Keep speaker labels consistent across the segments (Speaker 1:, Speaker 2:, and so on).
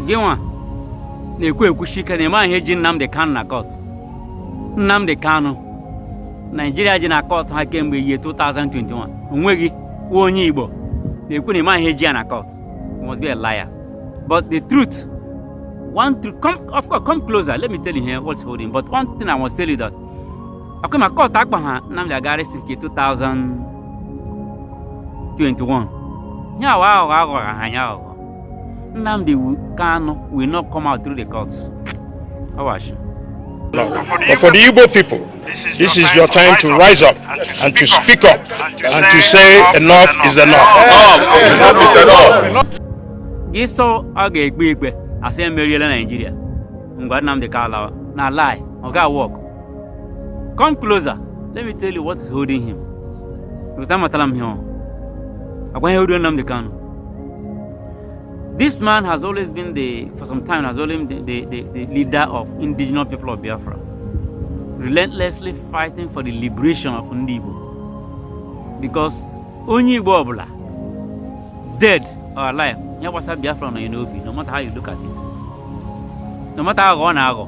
Speaker 1: gịnwa na-ekwu ekwushi ike na ịma ihe ji Nnamdi Kanu na kọt Nnamdi Kanu Naijiria ji na kọt ha kemgbe ihe 2021 onweghị nwa onye Igbo na-ekwu na ịma ihe ji ya na kọt must be a liar but the truth one truth come of course come closer let me tell you here what's holding but one thing I must tell you that okay ma kọt akpa ha Nnamdi agara since 2021 ya awa aghụghọ aghọrọ ha anya aghụghọ Nnamdi Kanu will not come out through the courts ọ wụ ashị No.
Speaker 2: But for the Igbo people, this is your time to rise up and to speak up and to say enough is enough. Enough is enough. Gị sị
Speaker 1: ọ ga-ekpe ikpe asị emeriela Naijiria ngwa Nnamdi Kanu na lie ọ gaa work come closer let me tell you what is holding him because amatala m ihe agwa ihe holding Nnamdi Kanu this man has always been the for some time has always been the, the, the, the leader of indigenous people of Biafra relentlessly fighting for the liberation of ndị Igbo because onye Igbo ọbụla dead or alive ihe gbasara Biafra nọ ya n'obi no matter how you look at it no matter how ọ na-aghọ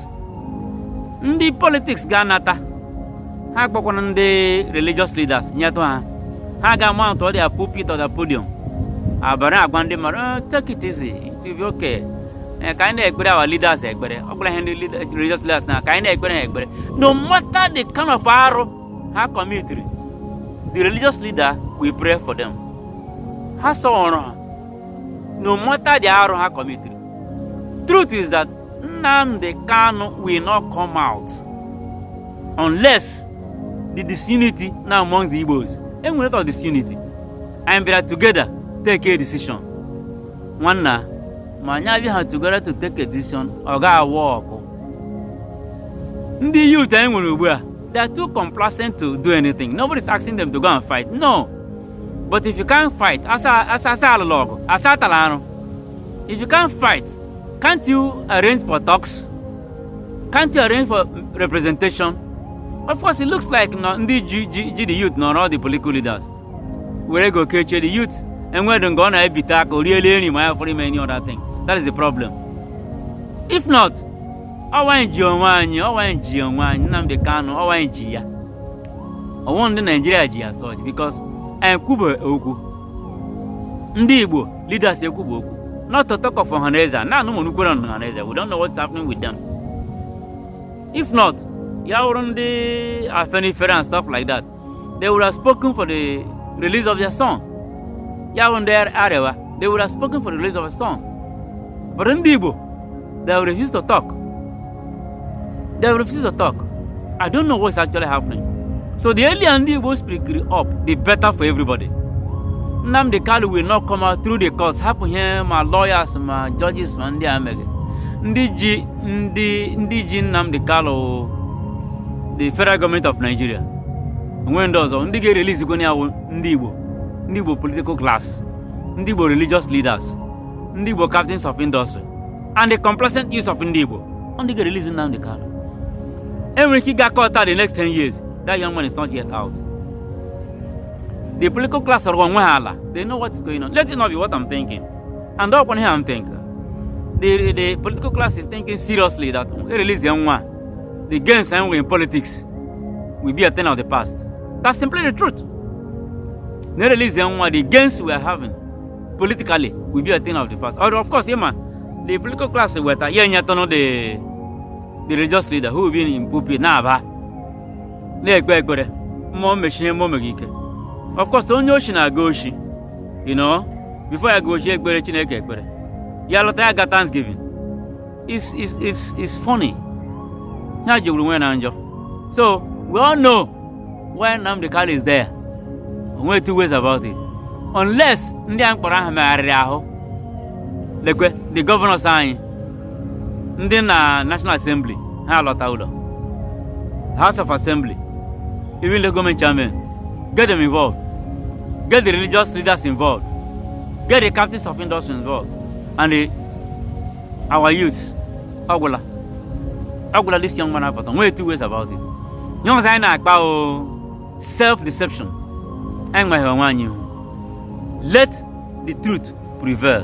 Speaker 1: ndị politiks ga-anata ha akpọkọrọ ndị religious leaders nyetụ ha ha ga-amount their pulpit or the podium abara agwa ndị mmadụ oh, take it easy it will be okay eh, ka anyị na-ekpere our leaders ekpere ọ bụla ihe ndị religious leaders na ka anyị na-ekpere ha ekpere no matter the kind of arụ ha kọmitiri the religious leader will pray for them ha sọrọ ha no matter the arụ ha kọmitiri truth is that Nnamdi Kanu will not come out unless the disunity now among the Igbos. Enwere ka disunity. Anyị bịara together take a decision. Nwanna, ma anyị abịaha together to take a decision, ọ gaa work. Ndị youth anyị nwere ugbu a, they are too complacent to do anything. Nobody is asking them to go and fight. No. But if you can't fight, asị asị asị alụla ọgụ, asị atala arụ. If you can't fight, can't you arrange for talks? Can't you arrange for representation? Of course, it looks like no, ndị ji ji ji the youth nọrọ all the political leaders. Were ego kechie the youth enwedụ nke ọ na-ebite aka o riela eri ma ya fọrọ ime any other thing. That is the problem. If not, ọ wụ anyị ji onwe anyị ọ wụ anyị ji onwe anyị Nnamdi Kanu ọ wụ anyị ji ya. Ọ wụ ndị Naijiria ji ya as such because anyị kwube okwu. Ndị Igbo leaders ekwu bụ okwu not to talk of ọhaneze na anụ mụrụ kwere ọhaneze we don't know what's happening with them if not ya wụrụ ndị afenifere and stuff like that they would have spoken for the release of their son ya wụrụ ndị arewa they would have spoken for the release of their son but ndị igbo they would refuse to talk they refuse to talk i don't know what's actually happening so the earlier ndị igbo speakiri up the better for everybody nnamdị kalu will not come out through the courts hapụ ihe ma lawyers ma judges ma ndị a mega ndị ji ndị ndị ji nnamdị kalu the federal government of nigeria o nweghị ndị ọzọ ndị ga-erelease kwa ya wụ ndị igbo ndị igbo political class ndị igbo religious leaders ndị igbo captains of industry and the complacent youths of ndị Igbo ọ ndị ga-erelease Nnamdi Kanu e nwere ike ịga court the next 10 years that young man is not yet out the political class rụrụ onwe ha ala they know what is going on let it not be what I'm thinking and ọkwa ihe I'm thinking the, the political class is thinking seriously that e release ya nwa the gains enwe in politics will be a thing of the past that's simply the truth na e release ya nwa the gains we are having politically will be a thing of the past. Or of course, yeah, man, the political class will weta yeah, yeah, no the the religious leader who will be in pulpit na-aba na-ekpe ekpere mụ mmeshi ihe mụ mega ike. Of course, onye oshi na-aga oshi, you know, before ya aga oshi ekpere Chineke ekpere, ya lọta ya aga Thanksgiving. It's, it's, it's, it's funny. Ya jọwuru onwe ya njọ. So, we all know Why Nnamdi Kanu is there, o nweghị two ways about it. Unless ndị a m kpọrọ aha megharịrị ahụ lekwe the governors anyị ndị na National Assembly ha lọta ụlọ House of Assembly even local government chairmen get them involved get the religious leaders involved get the captains of industry involved and the, our youths ọ gwụla ọ gwụla this young man apụta o nweghị two ways about it ihe ọzọ anyị na-akpa ọ self deception anyị nweghị onwe anyị ihu let the truth prevail